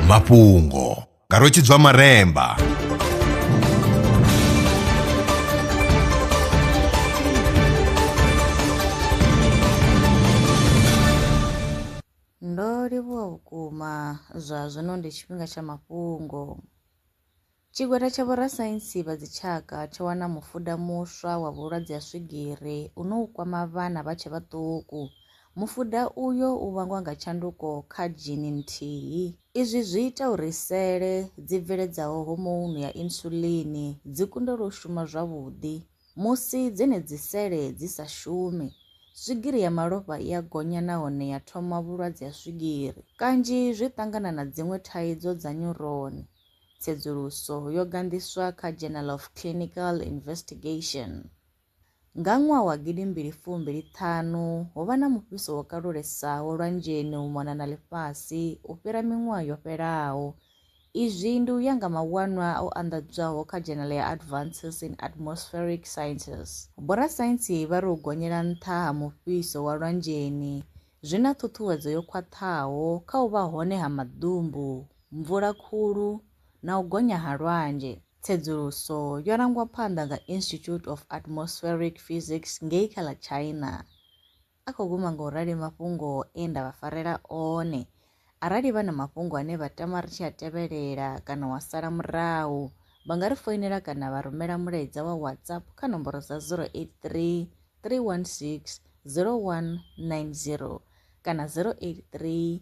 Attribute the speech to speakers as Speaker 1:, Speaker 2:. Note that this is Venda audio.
Speaker 1: mafhungo nga rwetshidzwa maremba
Speaker 2: ndo livhuwa vhukuma zwa zwino ndi tshifhinga tsha mafhungo Tshigwada tsha vhorasaintsi vha dzitshaka tsho wana mufuda muswa wa vhulwadze ha swigiri une u kwama vhana vha tshe vhaṱuku. Mufuda uyo u vhangwa nga tshanduko kha dzhini nthihi. Izwi zwi ita uri sele dzi bveledzaho homounu ya insulin dzi kundelwe u shuma zwavhuḓi. Musi dzenedzi sele dzi sa shumi, swigiri ya malofha i a gonya nahone ya thoma vhulwadze ha swigiri. Kanzhi zwi ṱangana na dziṅwe thaidzo dza nyuroni. tsedzuluso yo ganḓiswa kha Journal of Clinical Investigation. Nga ṅwaha wa gidi mbili fumbili ṱhanu, ho vha na mufhiso wo kalulesaho lwanzheni u mona na ḽifhasi u fhira miṅwaha yo fhelaho. Izwi ndi u ya nga mawanwa o anḓadzwaho kha Journal ya Advances in Atmospheric Sciences. Vhorasaintsi vha ri u gonyela nṱha ha mufhiso wa lwanzheni zwi na ṱhuṱhuwedzo yo khwaṱhaho kha u vha hone ha maḓumbu mvula khulu na u gonya ha lwanzhe. Tsedzuluso yo rangwa phanḓa nga Institute of Atmospheric Physics ngei kha ḽa China. A khou guma nga u rali mafhungo e nda vha farela one. Arali vha na mafhungo ane vha tama ri tshi a tevhelela kana wa sala murahu, vha nga ri foinela kana vha rumela mulaedza wa WhatsApp kha nomboro dza 083 316 0190 kana 083